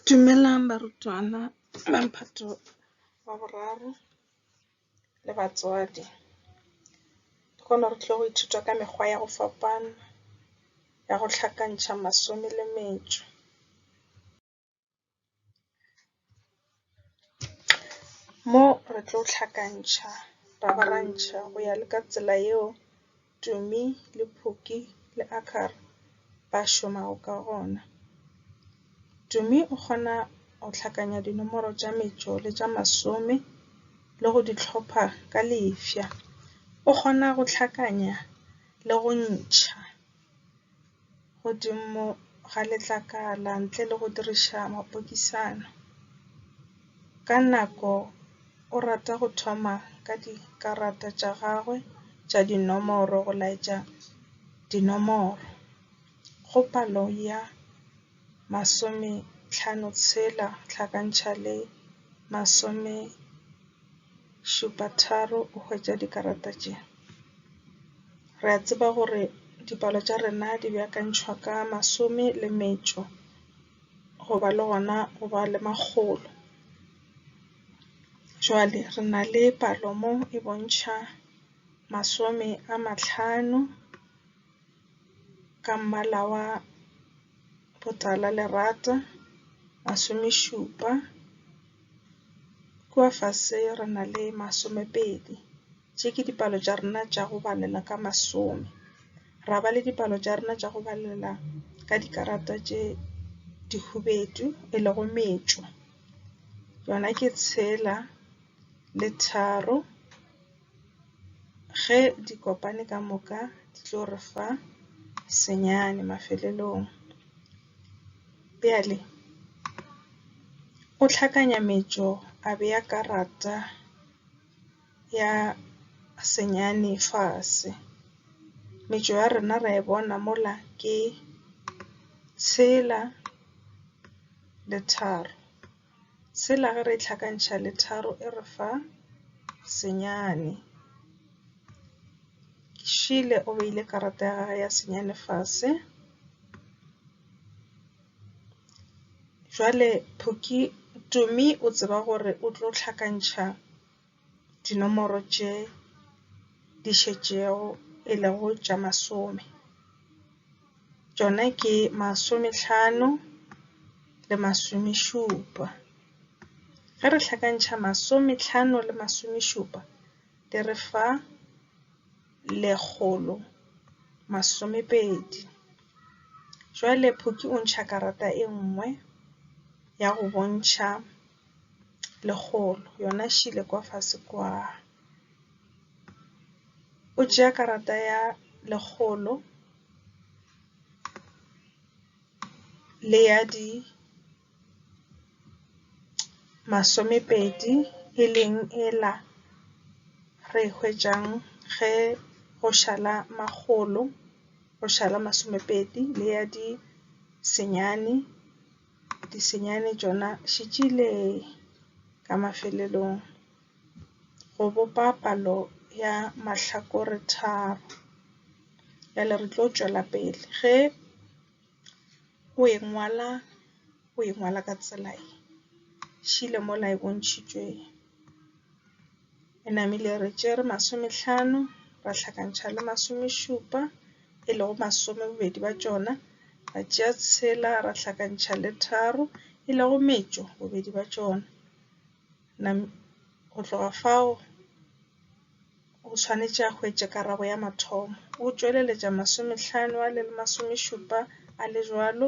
Dumelang barutwana ba Mphato wa Boraro le batswadi. Ke kgona re tlo go ithuta ka mekgwa ya go fapana ya go hlakantšha masome le metšo. Mo re tlo hlakantšha rabarantšha go ya le ka tsela yeo Tumi le Phuki le Akhaar ba šomago ka gona. Tumi o kgona go hlakanya dinomoro tša metšo le tša masome le go di hlopha ka lefša. O kgona go hlakanya le go ntšha. godimo ga letlakala ntle le go diriša mapokisana. Ka nako o rata go thoma ka dikarata tša gagwe tša dinomoro go laetša dinomoro go palo ya masometšhano-tshela hlakantšha le masomešupatharo o hwetša dikarata tše. Re a tseba gore dipalo tša rena di beakantšhwa ka masome le metšo go ba le gona go ba le makgolo. Jwale re na le palo mo e bontšha masome a mahlano ka mmala wa botala lerata, masomešupa, kua fase re na le masomepedi. Tše ke dipalo tša rena tša go balela ka masome. Ra ba le dipalo tša rena tša go balela ka dikarata tše dihubedu e lego metšo. Yona ke tshela le tharo. Ge di kopane ka moka di tlo re fa senyane mafelelong. Bjale o hlakanya metšo a bea karata ya senyane fase. Metšo ya rena ra e bona mola ke tshela le tharo. Tshela ge re e hlakantšha le tharo e re fa senyane. Šile o beile karata ya gagwe ya senyane fase. Jwale Tumi o tseba gore o tlo hlakantšha dinomoro tše di šetšego e lego tša masome. Tšona ke masomehlano le masomešupa. Ge re hlakantšha masomehlano le masomešupa di re fa lekgolo masomepedi. Jwale Phuki o ntšha karata e nngwe ya go bontšha. lekgolo yona e šele kwa fase kwa. O tšea karata ya lekgolo le ya di masomepedi e leng ela re e hwetšang ge go šala makgolo, go šala masomepedi le ya di senyane. Di senyane tšona še tšile ka mafelelong go bopa palo ya mahlakore tharo. Bjale re tlo tšwela pele ge o e ngwala o e ngwala ka tsela e šele mola e bontšhitšwe. E namile re tšere masomehlano, ra hlakantšha le masomešupa, e lego masome bobedi bja tšona, ra tšea tshela, ra hlakantšha le tharo, e lego metšo bobedi bja tšona. Nam go tloga fao o swanetše a hwetše karabo ya mathomo. O tšweleletša masomehlano a le masomešupa a le bjalo.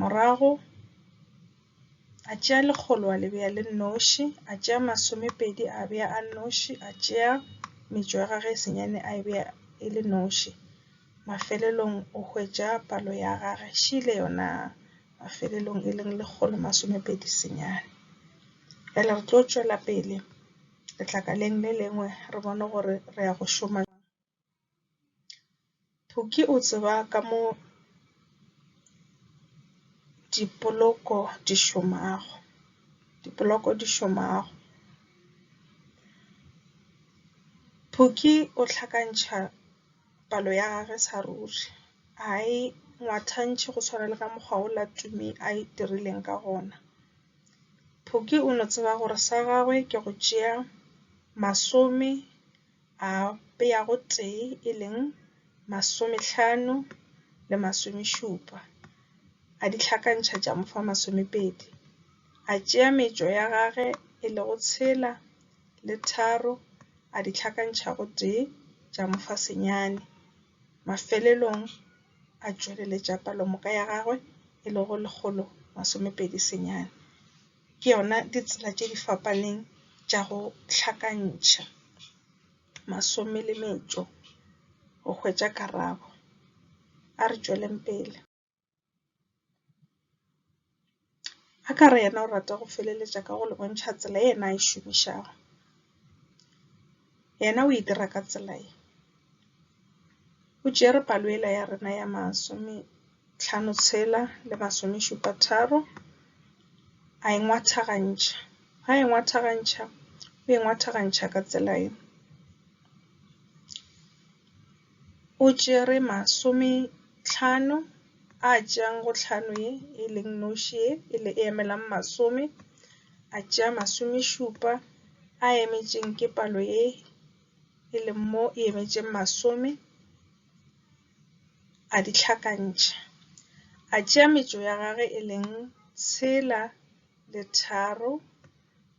Morago a tšea lekgolo a le bea le noši, a tšea masomepedi a bea a noši, a tšea metšo ya gage e senyane a e bea e le noši. Mafelelong o hwetša palo ya gage šele yona mafelelong e leng lekgolo masomepedi senyane. Bjale re tlo tšwela pele letlakaleng le lengwe re bone gore re ya go šoma. Phuki o tseba ka mo dipoloko di šomago. Dipoloko di šomago. Phuki o hlakantšha palo ya gage sa ruri. A e ngwathantšhe go tshwana le ka mokgwa o la Tumi a e dirileng ka gona. Phuki o no tseba gore sa gagwe ke go tšea masome a bea gotee e leng masomehlano le masomešupa, a di hlakantšha tša mo fa masomepedi. A tšea metšo ya gage e lego tshela le tharo a di hlakantšha gotee tša mo fa senyane. Mafelelong a tšweleletša palomoka ya gagwe e lego lekgolo masomepedi senyane. ke yona ditsela tše di fapaneng tša go hlakantšha masome le metšo go hwetša karabo. A re tšweleng pele. A ka re yena o rata go feleletša ka go le bontšha tsela e yena a e šomišago. Yena o e dira ka tsela ye. O tšere palo yela ya rena ya masometlhano tshela le masomešupa tharo, a e ngwathagantšha. Ha e ngwathagantšha, o e ngwathagantšha ka tsela ye. O tšere masometlhano a tšeang go tlhano ye e leng noši ye e le e emelang masome, a tšea masomešupa a emetšeng ke palo ye e leng mo e emetšeng masome, a di hlakantšha. A tšea metšo ya gage e leng tshela le tharo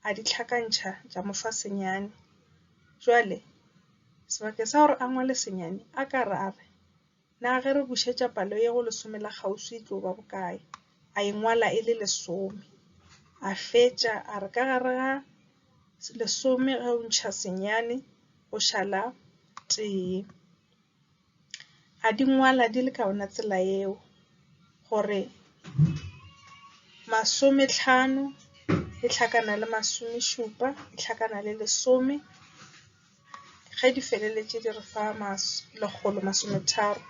a di hlakantšha tša mo fa senyane. Jwale. Sebakeng sa gore a ngwale senyane, a ka re a re, Na ge re bušetša palo ye go lesome la kgauswi e tlo ba bokae? A e ngwala e le lesome. A fetša a re ka gare ga lesome ge o ntšha senyane go šala tee. A di ngwala di le ka yona tsela eo gore masometlhano e tlhakana le masomešupa e tlhakana le lesome, ge di feleletše di re fa lekgolo masometharo.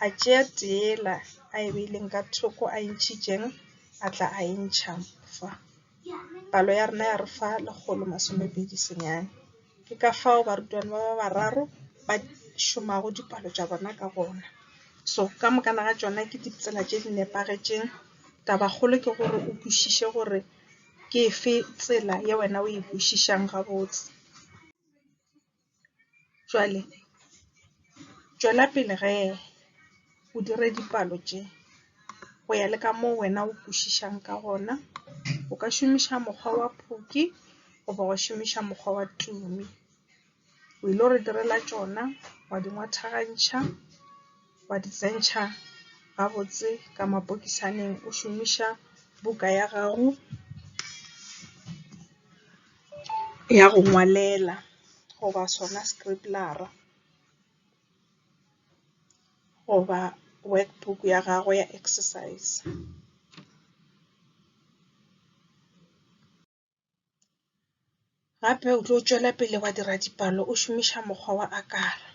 A tšea tee yela a e beileng ka thoko a e ntšhitšeng a tla a e ntšha fa. Palo ya rena ya re fa lekgolo masome pedi senyane. Ke ka fao barutwana ba ba bararo ba šomago dipalo tša bona ka gona. So ka moka na ga tšona ke ditsela tše di nepagetšeng. Taba kgolo ke gore o kwešiše gore ke efe tsela ye wena o e kwešišang gabotse. Bjale tšwela pele ge o dire dipalo tše go ya le ka moo wena o kwešišang ka gona. O ka šomiša mokgwa wa Phokwi goba wa šomiša mokgwa wa Tumi. O ile go re direla tšona, wa di ngwathagantšha, wa di tsentšha gabotse ka mapokisaneng o šomiša buka ya gago. ya go ngwalela goba sona skribbler-ra goba work book ya gago ya exercise. Gape o tlo tšwela pele wa dira dipalo o šomiša mokgwa wa akara.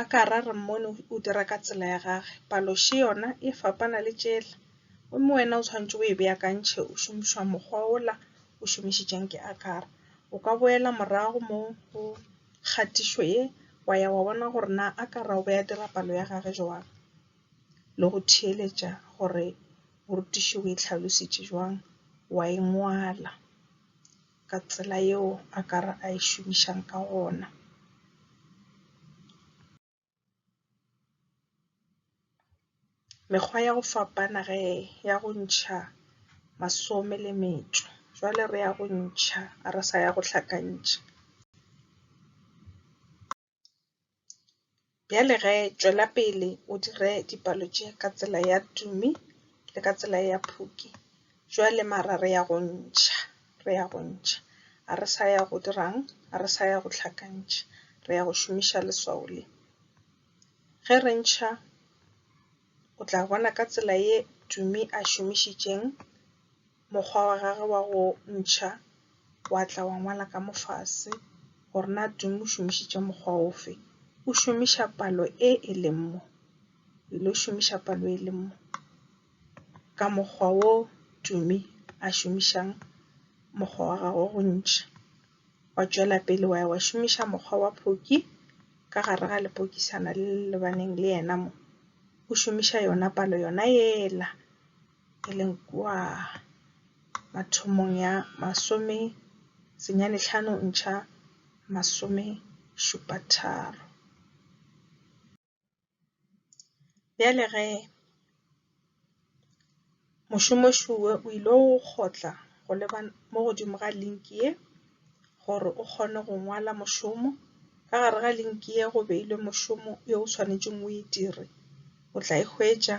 A ka ra re mmone o dira ka tsela ya gage, palo še yona e fapana le tšela, gomme wena o tshwanetse o e beakantšhe o šomišwa mokgwa ola o šomišitšeng ke Akara. O ka boela morago mo go kgatišo ye wa ya wa bona gore na Akara o be a dira palo ya gage bjang le go theeletša gore morutiši o e hlalositše bjang, wa e ngwala. ka tsela yeo a ka re a e šomišang ka gona. Mekgwa ya go fapana ge ya go ntšha masome le metšo, jwale re ya go ntšha a re sa ya go hlakantšha. Bjale ge, tšwela pele o dire dipalo tše ka tsela ya Tumi le ka tsela ya Phuki. Bjale, mara re ya go ntšha, re ya go ntšha. Ga re sa ya go dira'ng? Ga re sa ya go hlakantšha. Re ya go šomiša leswao le. Ge re ntšha, o tla bona ka tsela ye Tumi a šomišitšeng. Mokgwa wa gage wa go ntšha wa tla wa ngwala ka mofase gore na Dimo o šomišitše mokgwa ofe. O šomiša palo e e leng mo. Ile o šomiša palo e e leng mo. Ka mokgwa wo Dumi a šomišang mokgwa wa gagwe wa go ntšha. Wa tšwela pele wa ya wa šomiša mokgwa wa phoki ka gare ga lepokisana le le lebaneng le yena mo. O šomiša yona palo yona yela e leng kua mathomong ya masome senyane hlano ntšha masome šupa tharo. Bjale ge mošomoši wo o ile go kgotla go leba mo godimo ga link ye. Gore o kgone go ngwala mošomo, ka gare ga linki ye go beilwe mošomo yo o swanetšeng o e dire. O tla e hwetša.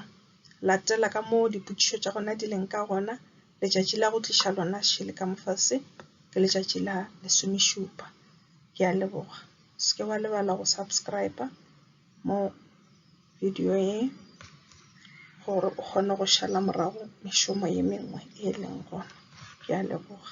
Latela ka moo dipotšišo tša gona di leng ka gona. Letšatši la go tliša lona šele ka mofase ke letšatši la lesomešupa. Ke a leboga. O se ke wa lebala go subscribe mo video ye gore o kgone go šala morago mešomo ye mengwe e e leng gona. Ke a leboga.